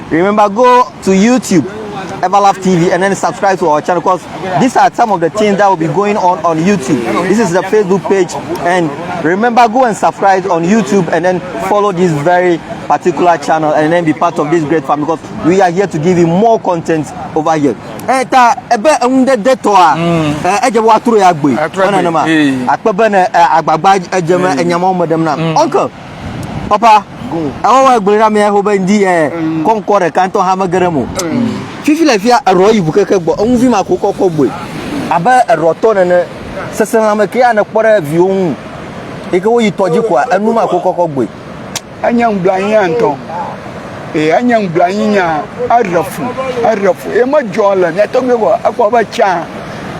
Remember go to YouTube Everlove TV and then subscribe to our channel because these are some of the things that will be going on on YouTube. This is the Facebook page and remember go and subscribe on YouTube and then follow this very particular channel and then be part of this great family because we are here to give you more content over here. Eh ta ebe enunde de to a mm. eh eje wa tro ya gbe. Ona na ma. Akpebe na eh, agbagba eje ma enyama eh, o medem na. Mm. Uncle Papa, ewa wa gblẽ ɖa mea ho be ndi ɛ kɔ ŋkɔ ɖe kan tɔ ha me gere mo. Fifi le fia erɔ yi bu keke gbɔ, eŋu vi ma ko kɔ kɔ gbɔe. Abe erɔ tɔ nene, sese la me ke ane kpɔ ɖe viwo ŋu. Eke wo yi tɔ dzi koa, enu ma ko kɔ kɔ gbɔe. Enye ŋubla anyi ya ŋutɔ. E enye ŋubla anyi nya, eɖe fu, eɖe fu. E me dzɔ le mia tɔgbe ko, ekpɔ be tsa,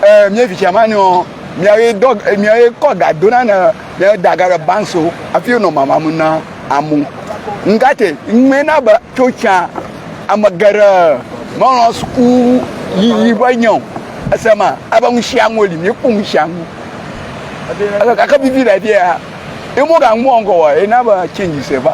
e mia vi tsa ma nɔ, mia ye dɔ, mia ye kɔ ga do na ne. ɖe daga ɖe banso afi wonɔ mamam na amu ŋgate ŋmɛ na be tso tsã ame geɖe melɔ suku yiyi ƒe nya o ese ma ebe ŋusiaŋu li míekpɔ ŋusiaŋu ebe gake vivi ɖe ɖia emo gaŋu ŋgɔ wa ena be change se va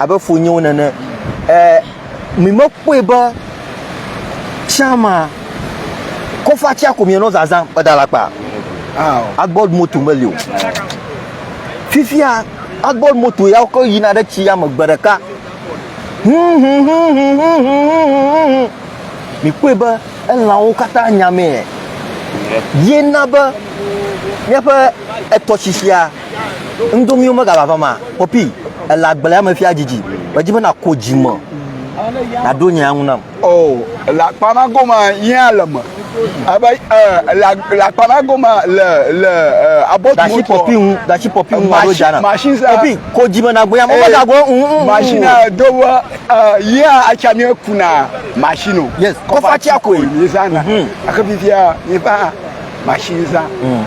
abe funyiwo nene. E, mi me kpɔe be tsama kɔfa tsia ko mi nɔ zazã eda la kpa. Agbɔd moto meli o. Fifia agbɔd moto ya ko yina ɖe tsi ya me gbe ɖeka. Mi kpɔe be elãwo katã nyamee. Ye na be míaƒe etɔsisia Ŋdomi wome gava vama. Popi, èle agble ame fia didi. Medzi be nàko dzi me nàɖo nya ŋu nam. O, èle akpa ma goma yẽ ale me. Ebe, e, èle, èle akpa ma goma le, le, e, abɔtu Da shi Popi ŋu, da shi Popi ŋu aɖo dza nam. Machine sa. Popi, ko dzi me nàgbo nya me. Wome gagbo, ŋ, ŋ, ŋ. Machine a do be, e, yẽa atsa mi kuna machine o. Yes, kɔfatsia koe. Mizãna. Gake fifia, miƒã. machine zã mm.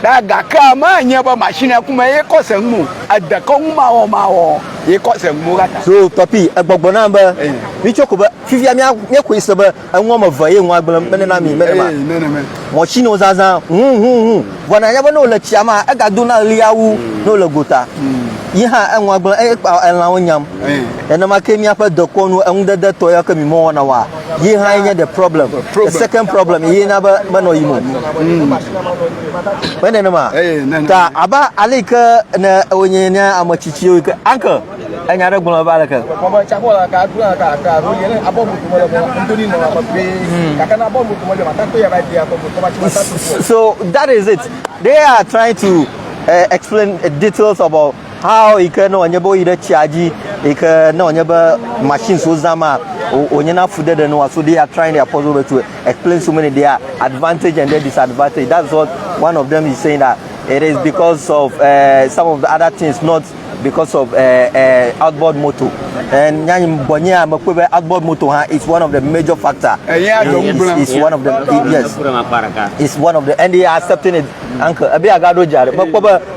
ɖa gake ame nye be machine ku me ye kɔ se ŋu edekɔ ŋu mawɔ mawɔ ye kɔ se ŋu kata. so papi egbɔgbɔ na be eh. mi tsɔ ko be fifia mi mi ko se be eŋu ame ve ye ŋu agble mene na mi mene ma eh, machine o zazã hu hu hu vɔ na nya be no le tsia ma ega do na lia wu mm. no le gota mm. yi hã eŋu agble eye kpa elãwo nyam eh. nenema ke miaƒe dekɔnu eŋudede tɔ ya ke mi mɔ wɔna wa yi hã nye the problem the second problem yi na be menɔ yim o mm. me nenema ta abe ale yi ke ne wonye ne ame tsitsiwo yi ke anke enya ɖe gblɔ va leke so that is it they are trying to uh, explain details about How yi ke ne wònye be woyi ɖe tsia dzi yi ke ne wònye be machines wozã ma wònye na fu ɖeɖe nua so they are trying their possible way to explain so many their advantage and their disadvantage that's what one of them is saying that it is because of uh, some of the other things not because of uh, uh, outboard motor and nyanyi bɔnye a mekpɔ be outboard motor ha is one of the major factor is, is one of the yes is one of the and they are accepting it uncle ebi agaɖo dzi aɖe mekpɔ be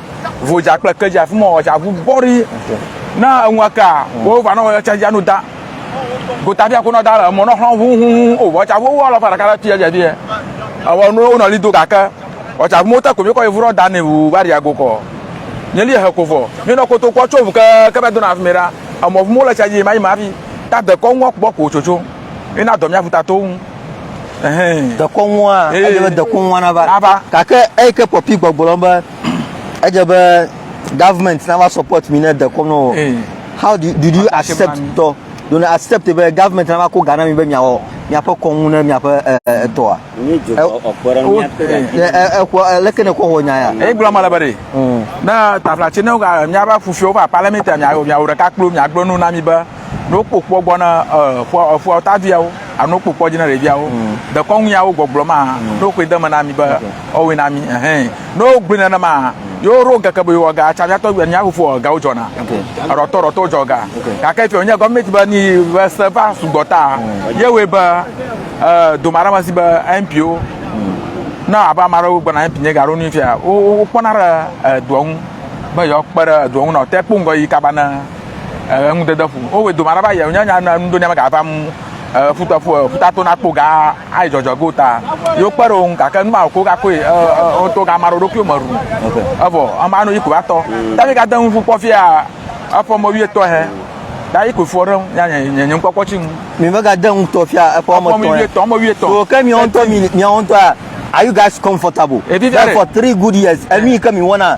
Vodza kple ke dza fuma ɔdza ʋu bɔri. Na eŋua ka wo va nɔ wɔyɔ tsa dza nu da. Gota fia ko nɔ da le mɔ nɔ xlɔ hu hu hu o vɔ tsa vo wo alɔ fa ɖeka ɖe tuya dza fia. Ewa no wo nɔ li do ga ke. Ɔtsa vo te ko mi ko evu rɔ da ne wu va ria go ko. Nye li he ko vɔ. Mi nɔ koto ko tso vu ke ke be do na fme ra. Emɔ vu mo le tsa dzi ma yi ma fi. Ta de ko ŋua ko bɔ ko tso tso. Ina dɔ mi avu ta to ŋu. dekɔnua edze be dekɔnua nava gake eyi ke pɔpi gbɔgblɔ be edze be government nava support mi ne dekɔnu o how do you, do you accept tɔ do you accept be government nava ko ga na mi be miawɔ miaƒe kɔnu ne miaƒe etɔa leke ne kɔ wɔ nya ya eyi gblɔ ma le be de ne taflatsi ne miaƒe fufia wova parliament miawɔ ɖeka kplo miagblɔ nu na mi be ne wokpɔ kpɔ gbɔ na eƒua eƒua ta viawo alo kpɔ kpɔ dzi na ɖeviawo mm. dekɔnu yawo gbɔgblɔ ma mm. ne wokɔe de me na mi be ɔwɔe na mi ɛhɛn ne wogblɔe nana ma yewo ɖo keke be yewo ga tsa miatɔ wia miaƒo fo gawo dzɔna erɔtɔ rɔtɔ dzɔ ga gake fi wonye gɔmɛnti be ni be se va sugbɔ ta mm. yewoe be ɛɛ doma ɖe ma si be mpo na abe ame aɖewo gbɔna mpo nye ga ɖo nu fia wokpɔna ɖe edoa ŋu be yewoakpe ɖe edoa ŋu na ɔte kpɔ ŋgɔ yi kaba na eh, ŋudede ƒu. Wowe doma ɖe va yɛ nya nya nu ɖo ne mega va mu eh, futa fu eh, futa to na kpo ga ai jɔjɔ go ta. Yo kpe ɖo ŋka ke nu ma ko ga ko eh, eh, o to ga ma ɖo ɖo kyo me ru. Evo ama no yiko atɔ. Ta mi ga de ŋu fu kpɔ fia afɔ mo wie tɔ he. Ta yiko fu ɖe nya nya nya nya kpɔ kpɔ tsi ŋu. Mi mega de ŋu tɔ fia efɔ Afɔ mo mo wie tɔ. tɔ mo wie tɔ. So ke mi on to mi mi on to a are you guys comfortable? Ebi via Like ɖe. for three good years. Enu yi ke mi wɔna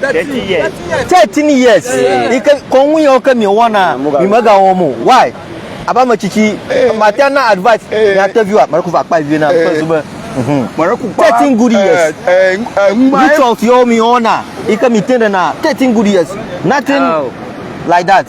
Thirty years. Thirteen years. Yi ke kɔnu yawo ke miewɔna mimegawɔm o. Why? Abe ame tsitsi mate na advice miate viwa mɛɖe ko va kpa vi na ƒe zu be. Thirteen good years. Rituals yawo miewɔna yi ke mite ɖena thirteen good years. Nothing like that.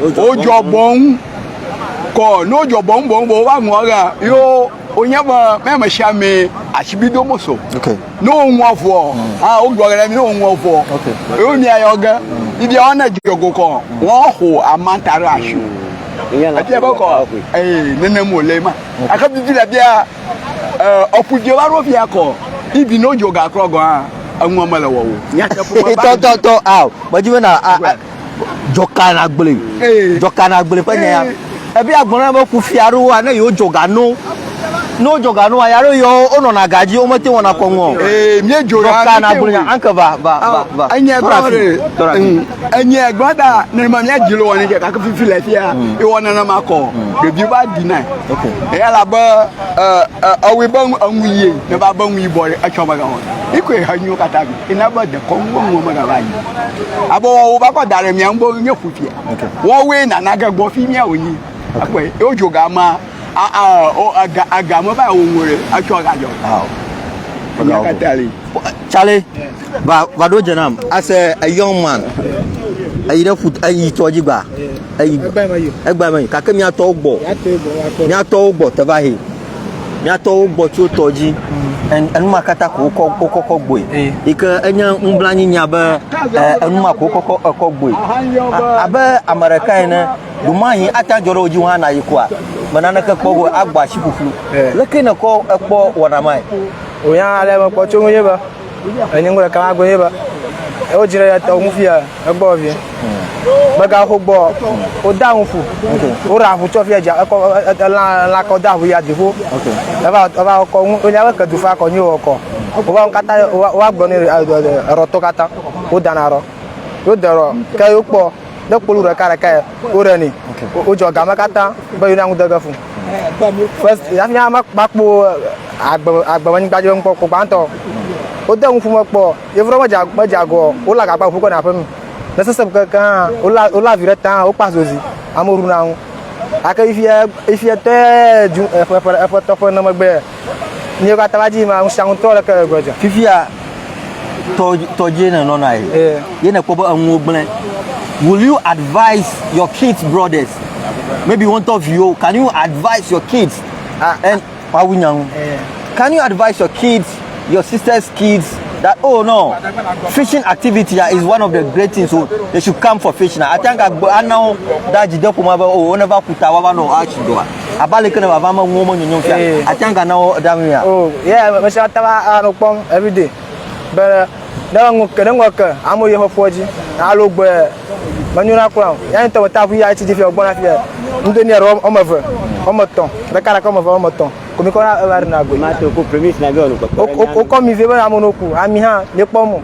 Wodzɔ bɔŋ kɔ, ne wodzɔ bɔŋ bɔŋ bɔŋ va ŋua ɣea, yo wonye be mɛ me sia mɛ asibi do mo so. Ne woŋua ŋua, ha wogblɔ ɖe mi ne woŋua ŋua, yo mi ayɔ ge, mi bia wane dzɔ go kɔ, wɔn xo amanta ɖe asi. Ebia be kɔ, ee nenem wòle ma. Ake bibi le bia, ɔku dze va ɖo bia kɔ, ibi ne wodzɔ gakrɔ gɔa, eŋua mele wɔwo. Tɔ tɔ tɔ ao, medi be na dzɔkana gblẽ dzɔkana gblẽ ƒe nya ebe agblɔ na be kufia aɖewo ne yewo dzɔga no ne wo dzɔga no ya ɖo yewo wonɔna ga dzi womete wɔna kɔŋɔ ee mie dzɔga dzɔkana gblẽ nya anke va va va va enye gbɔ ɖe enye gbɔ da ne ma mia dzi lo wɔni kɛ kake fifi le fia e wɔna na ma kɔ ɖevi va di na eya la be ɛ ɛ awi be enu yi ne ba be enu yi bɔ etsɔ ba ga wɔna ikɔ ehe nyiwo katã bi Ena be dekɔnu wɔnuwo megava yi. Abɔ wɔwɔ va kɔ da ɖe mia ŋu nye ƒu fia. Wɔwɔe nana ge gbɔ fi mia wònyi. Ekpɔe ye wodzi oga ma ega ega me va wo ŋu ɖe etsɔ ga dzɔ. Enya katã li. Tsale va va ɖo dze nam as a young man. Eyi ɖe ƒu eyi tɔ dzi gba. Eyi egba me. Kake miatɔwo gbɔ. Miatɔwo gbɔ te va he. Miatɔwo gbɔ tso tɔ dzi enuma katã ko wokɔ wokɔkɔ gboe yi ke enye nublanyinya be enuma ko wokɔkɔ ekɔ gboe abe ame ɖeka ene ɖomahi ata dzɔ ɖe wo dzi wo hã na yi koa me naneke kpɔ go agbɔ asi ƒuƒlu leke nekɔ ekpɔ wɔna mae. Oya ale mekpɔ tso ŋu ye be. Enye ŋgɔ ɖeka magbe ye be ewo dzi ɖe ya tɔwo ŋufi ya egbɔ vie. Mega ho gbɔ o da ŋu fu. O ra fu tsɔ fia ja ekɔ la la kɔ da ŋu ya divo. Eva eva kɔ ŋu o nya be ke du fa kɔ nyi o kɔ. O va kata o wa gbɔ ne ro to kata. O da na ro. O da ro ke yo kpɔ. ne kpolu ɖeka ɖeka yɛ woɖe ni wodzɔ game katã be yona ŋu dege fu first yafi ya makpɔ agbe agbe anyigba dzi ŋkpɔ kpɔ gbãtɔ wode ŋu fu me kpɔ yevu ɖe medza medza agɔ wo la gagba ŋu kɔ na aƒe mi ne sese keke hã wo la wo la vi ɖe ta wo kpa zozi amewo ɖu na ŋu ake ifia ifia tɛ ju eƒe eƒe eƒe tɔƒe ne megbe Míawo katã va di ma ŋu sia ŋu tɔ leke le gbɔdzɔ. Fifia tɔdzi ne nɔna ye. Eh. Ye ne kpɔ be enuwo gblẽ. Will you advise your kids brothers? Maybe won to viwo. Can you advise your kids? Ah. And wawu nyang. Eh. Can you advise your kids, your sister's kids that oh no, fishing activity ah, is one of the great things. So oh, they should come for fishing. Ah. I think I know that you don't come over. Oh, whenever kuta wawa no, I should do. abe ale ke ne vava me ŋuwo menyonyo fia eh. ati anga na wo ɖa ŋuia. o oh, ye mesi ata va anɔ kpɔm everyday be ne ŋu ke ne ŋu ke amewo yɛ ƒeƒoa dzi alo gbe menyo na kura o ya ŋutɔ meta ŋu yi atsi dzi fia o gbɔna fia ŋdo ni aɖe wɔme eve wɔme etɔ̃ ɖeka ɖeka wɔme eve wɔme etɔ̃ komi kɔ na eva ɖe na gbe. ma to ko premis na bi ɔnu kpɔkpɔ. wokɔ mi vie be amewo ku ami hã mi kpɔ mo.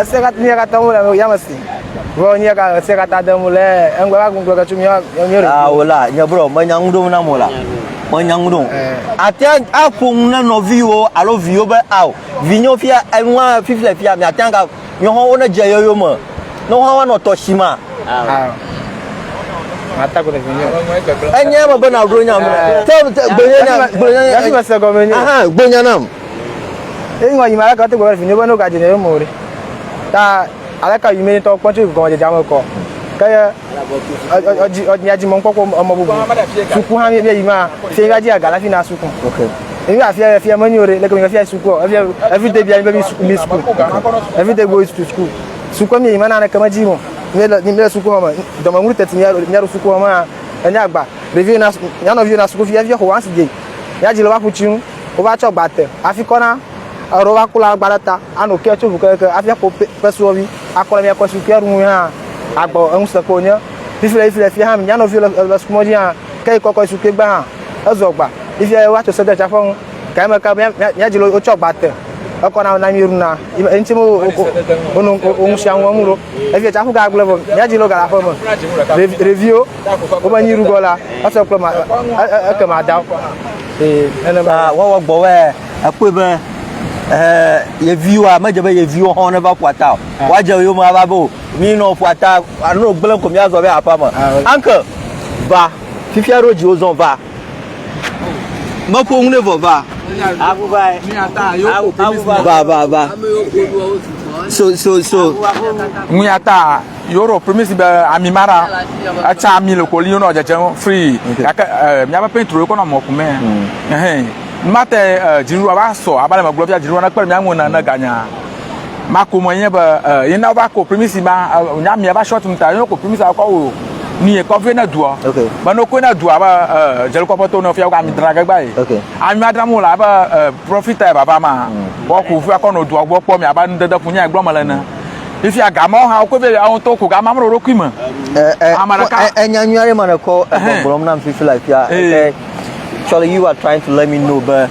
Ese katã mía katã mu le yame si. Vɔ nye ka ese katã de mu le engbe va gunglo ke tso mía mía ɖe. Ah wala, nye bro, me nya ŋuɖom na mo la. Me nya ŋuɖom. Ate a ƒoŋu na nɔviwo alo viwo be ao, vinyo fia enua fifi le fia, mi ate ga nyo ho ne je yoyo me. No ho wa no to shima. Ah. Mata ko de vinyo. Enye me be na ro nya me. Te gbe nya gbe nya. Gbe nya nam. Eye ŋɔ yi me aleke wote gbe vinye be ne wogadze nye yome o ɖe? Ta aleke yi me ne tɔ kpɔ tso gɔmedzedzea me kɔ? Ke ye ɔdzi dzi mɔkpɔkpɔ emɔ bubu. Suku hã bia yi ma, fie bia dzi aga la fi na suku. Ebi ba fia fia menyo ɖe, leke mi bia fia suku o. Ebi ebi de bia mi be mi suku mi suku. Ebi de go suku suku. Suku mi yi ma na ne kama dzi mo. Mi le mi le suku home. Dɔmɔ ŋuri teti mi alo mi alo suku home a. Enya gba. Ɖevi na ya nɔ vi na suku fia fia ho ansi dzi. Ya dzi le wa ƒu tsi nu. wova tsɔ gba te hafi kɔ na eɖo va kula gba ɖe ta ano kɛ tso ʋu keke hafi akɔ pesuɔvi akɔ le miakɔ si kɛ ɖu ŋu hã agbɔ eŋusẽ ko nye fifi le fifi le fi hã mia nɔvi le le sukumɔ dzi hã kɛ kɔkɔ su kɛ gba hã ezɔ gba fifi wa tso sɛdɛ tsaƒe ŋu kɛ me ka mia dzi le wotsɔ gba te ekɔ na na mi ɖu na eŋuti mo wo ŋu sia ŋu ŋu ɖo efi tsaƒe ga gblẽ vɔ mia dzi le galaƒe me ɖeviwo Wobe nyi ɖugɔ la, esɔ kple ma eke ma da. Ee, nene ba. Ah, wawa gbɔ wɛ, ekpɔe be eh yeviwa medze be yeviwo hɔn ne va ƒuata o. Ah. Wa dze yo ma va bo. Mi no ƒuata, ano gble ko mi azɔ be apa me. Ah, Uncle, va. Fifia ro dzi wo zɔn va. Meƒo nu ne vɔ va. Abu va. Abu va. Va va va. So so so. Ŋuya ta yoro primisi be ami mara etsa ami le koli yonɔ dzedze free gake eh, miaƒe petro yokɔ nɔ mɔkume. Hmm. Ehɛn. Mate eh, dzinuɖua va sɔ abaleme gblɔ fia dzinuɖua nekpe miaŋu ne ganya. ma ko me nye be eh, ye na va ko primisi ma eh, nya mia va short mu ta ye ko primisi akɔ wo ni ye kɔfie na dua okay ba no ko na dua ba eh, jeli kɔfie to no fia ko ami dra gagba ye okay ami adra mu la ba eh, profita ye baba ma mm. bo ko fia ko no dua bo kpɔ mi aba nu dede kunya gblɔ me le na ifi aga ma ha ko be awon to ko ga ma mo ro kui me eh eh amaraka enya nyu are ma ko gblɔm na fifi la fia eh, eh. eh. Actually, you are trying to let me know, but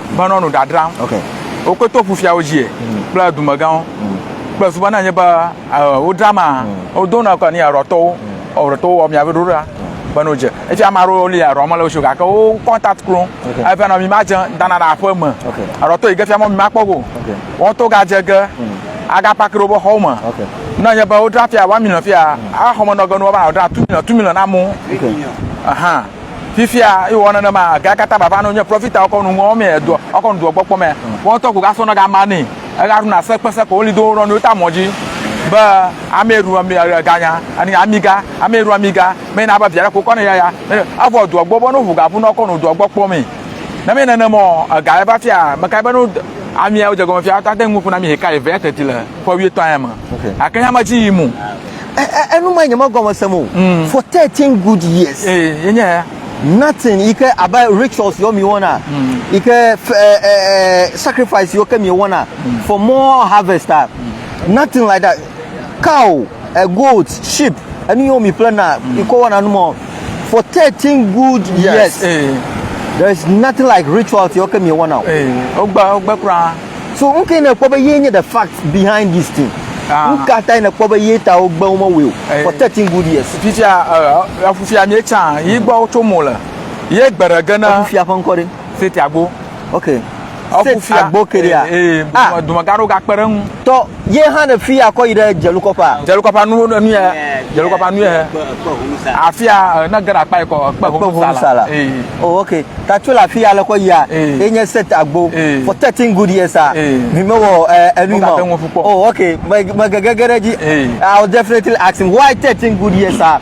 menɔ nu ɖadram. Okay. Wokɔe to ƒufiawo dzi mm. kple dumegãwo mm. kple suba na nye be wodra ma mm. wodo na kɔ ni arɔtɔwo arɔtɔwo wɔ mia be ɖo ɖa be no dze efi ame aɖewo li arɔ mele wosio gake wo contact klo efi anɔ mi ma dze dana na aƒe me arɔtɔ yi ke fi amɔ mi ma kpɔ go wɔn to gadze ge aga paki ɖe wobe xɔwo me na nye be wodra fia wa mi nɔ fia axɔmenɔgenu wa ba wodra tu mi nɔ tu mi nɔ na mo ahan. Fifia yi wɔ nenema ga kata baba no nye profita ɔkɔ nu ŋɔ mɛ do ɔkɔ nu do gbɔ kpɔ mɛ wɔ tɔ ko ga sɔ na ga ma ni ega nu na se kpe se ko woli do rɔ ni ta mɔ ji be ame ru ami ga nya ani ami ga ame ru ami ga mɛ na ba via ko kɔ ne ya ya avɔ do gbɔ bɔ no hu ga bu no kɔ nu do gbɔ kpɔ mɛ ne mɛ nene mɔ ga eva fia me ka be no ami ya wo je gɔme fia ta de ŋu kuna mi he ka eve ya teti le ko wi to ayama akenya ma ji yi mu enu ma nyeme gɔme sem o mm. for 13 good years eh, eh, nothing yi ke abe rituals yɔ mi wɔna mm. yi ke eh, sacrifice yɔ ke mi wɔna mm. for more harvest ah nothing like that cow a goat sheep enu yɔ mi plan na yi ke wɔna nu mɔ for 13 good years there is nothing like rituals yɔ ke mi wɔna o. So nu kae nèkpɔ be ye nye the fact behind this thing? Ah. Nu ka tae nèkpɔ be ye ta wogbe wo mewɔe o eh. for thirteen good years? Fifia eh, efufia mi etsa yi gbɔ wotso mo le ye gbe ɖe ge na. Efufia ƒe ŋkɔ ɖe. Seti agbo. Ok. Seti agbo ke ɖea. Ee eh, ah. dumegã ɖewo gakpe ɖe ŋu. Tɔ. Ye hã ne fi akɔ yi ɖe dzelukɔƒea. Dzelukɔƒea nu enu ya. Dzelukɔƒea nu ya. Afia eh, ne ge ɖe akpa yi kɔ ekpe kpe ŋusala. Oh okay. Ta tso le afi ya le kɔ yia. Ye nye set agbo. For 13 good years a. Mi me wɔ eh, enu ma. Oh okay. Me me gege ge ɖe dzi. I'll definitely ask him why 13 good years a.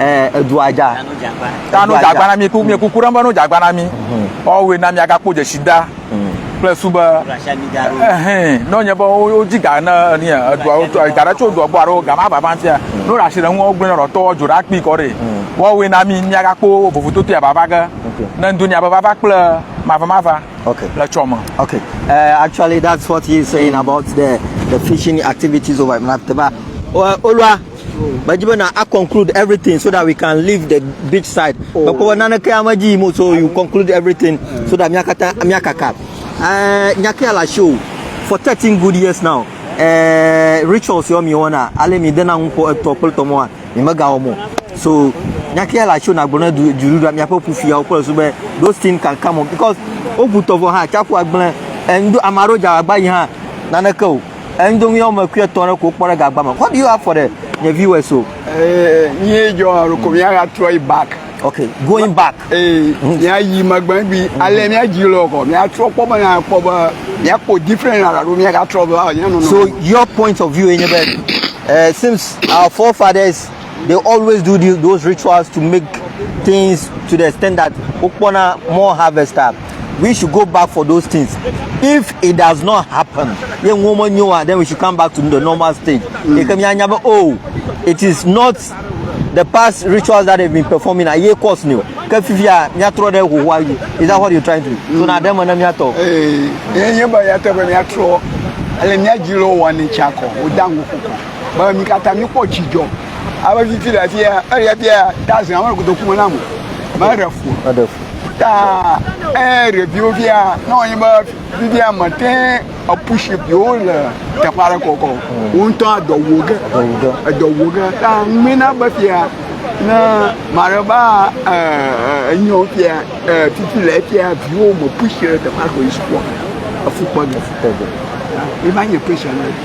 Eh, edua dza. Ta no dzagba na mi, mi kuku ɖem be no dzagba na mi. Mhm. Woawoe na mi agakpɔ dzesida mhm. kple su be eh, ne nye be wodzi ga ne ni edua ga ɖe tso dua gbɔ alo ga ma vava fia. Mhm. No ɖe asi ɖe ŋu wogblẽ ɖɔtɔ dzo ɖa kpi kɔ ɖe. Woawoe na mi miagakpɔ vovototo ya vava ge. Ne ŋdo nya be vava kple mava mava le tsɔ me. Okay. Eh, actually that's what he is saying about the the fishing activities over in Mateba. Olua Medzi be na conclude everything so that we can leave the beach side. Oh. Mekpɔ be naneke ya medzi yim o so you conclude everything so that miakata miakaka. Uh, nyakea le asi o for thirteen good years now. Uh, rituals yɔ mi wɔna ale mi dena ŋu ƒo etɔ kple tɔmɔa mi megawɔ mo so nyakea le asi o nagblɔ ne du du ɖuɖa miaƒe ƒufiawo kple so be those things can come on because wobu tɔvɔ hã tsaƒu agblẽ. Enu ame aɖewo dza agba yi hã naneke o. Endomi yɔ me kuiɛ tɔn ɖe ko kpɔ ɖe gagba me. What do you have for the the viewers so? Eh, nye jɔ alo ko mia ga trɔ yi back. Okay, going back. Eh, mia yi magbe bi ale mia ji lo ko mia trɔ kpɔ be na kpɔ be mia kpɔ different la do mia ga trɔ be ah, nye no no. So your point of view enye be eh, since our forefathers They always do the, those rituals to make things to the extent that wokpɔna more harvest up. We should go back for those things. If it does not happen, ye ŋuwo menyo wa, then we should come back to the normal stage. Mm. Eke mianya be, oh, it is not the past rituals that they've been performing are ye cause new ke fifia miatrɔ ɖe hohoa yi is that what you trying to do mm. so na ɖe me na miatɔ. ee eh, ye nye be ya tɔ be miatrɔ ele miadzilɔ wɔ ne tsi akɔ wòda ŋu koko. be mi katã mikpɔ dzidzɔ abe titi le afi ya eya bia dazen awo godo kuma na mo me ɖe fu eɖe fu ta e ɖeviwo bia na wɔnyi be bibia me te epushi biwo le teƒe aɖe kɔkɔ wo ŋutɔ adɔ wo ge edɔ wo ge ta ŋmina be fia ne mare ba enyo fia titi le fia viwo me pushi le teƒe aɖe kɔ yi sukua efukpɔ ge efukpɔ ge eva nye pɛsɛ na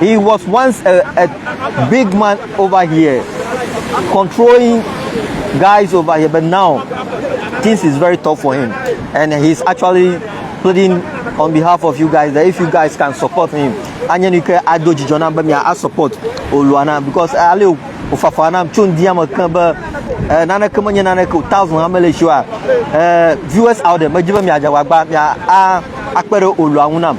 He was once a, a big man over here, controlling guys over here, but now things is very tough for him. And he's actually pleading on behalf of you guys that if you guys can support him, anya ni ke ado dzidzɔ na be mia a support Oluana because ale ofafa na tso ndi ame kan be eh, nane ke menye nane ke thousand ame le shiwa eh, viewers out there medzi be mia dza wagba mia a akpe ɖe Olua ŋu nam.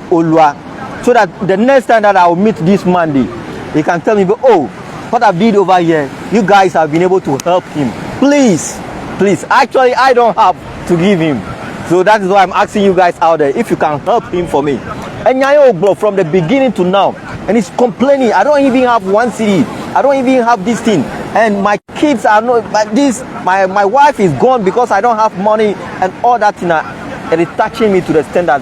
olua so that the next time that I will meet this man dey he can tell me be oh what I did over here you guys have been able to help him please please actually I don't have to give him so that is why I'm asking you guys out there if you can help him for me enya yóò gbɔ from the beginning to now and he's complaining I don't even have one city I don't even have this thing and my kids are not but this my my wife is gone because I don't have money and all that thing na it is touching me to the standard.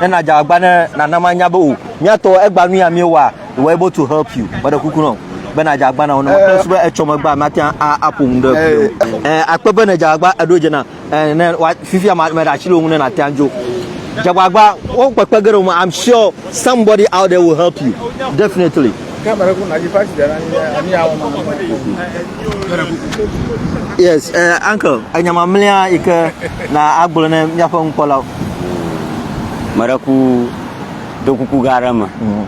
ne na dza agba ne nana ma nya be o mia tɔ egba nu ya mi wa we able to help you me de kuku no be na dza agba na o ne ma kple sube etsɔ me gba ma te a a po mu de eh akpe be ne dza agba edo dze na eh ne wa fifi ama me da chilo mu ne na te anjo dza agba wo kpekpe gero ma i'm sure somebody out there will help you definitely yes eh uncle enyama mlia ike na agbo ne mia fa un kola me ɖe ku do kuku gã aɖe me. Mm.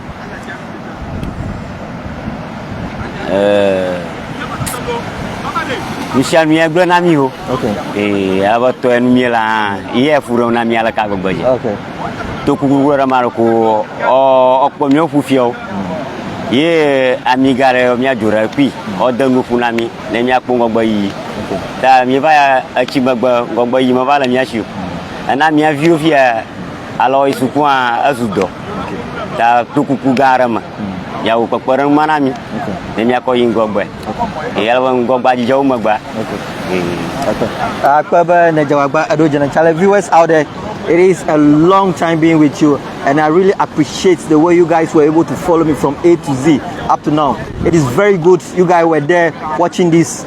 nusia nu ya gblẽ na mi o ee abe tɔe nu mie la hã ye efu ɖem na mi aleke agbegbe dzi to kuku gblẽ ɖe ma ɖe ko ɔkpɔ mi ɔƒu fiawo mm. ye ami ga ɖe miadzo ɖe kui ɔde nuƒu na mi ne miakpɔ ŋgɔgbe yiyi Ta míeva ya etsi megbe ŋgɔgbe yi meva le mía si o. Ena mía viwo fia alɔ yi suku hã ezu dɔ. Ta to kuku gã aɖe me. Yeawo kpekpeɖeŋu ma na mí. Ne míakɔ yi ŋgɔgbe. Ye ale be ŋgɔgbea dzidzɔ wu megbea. Akpe be nedze wagba eɖo dze ne Charlie viewers out there. It is a long time being with you, and I really appreciate the way you guys were able to follow me from A to Z up to now. It is very good you guys were there watching this.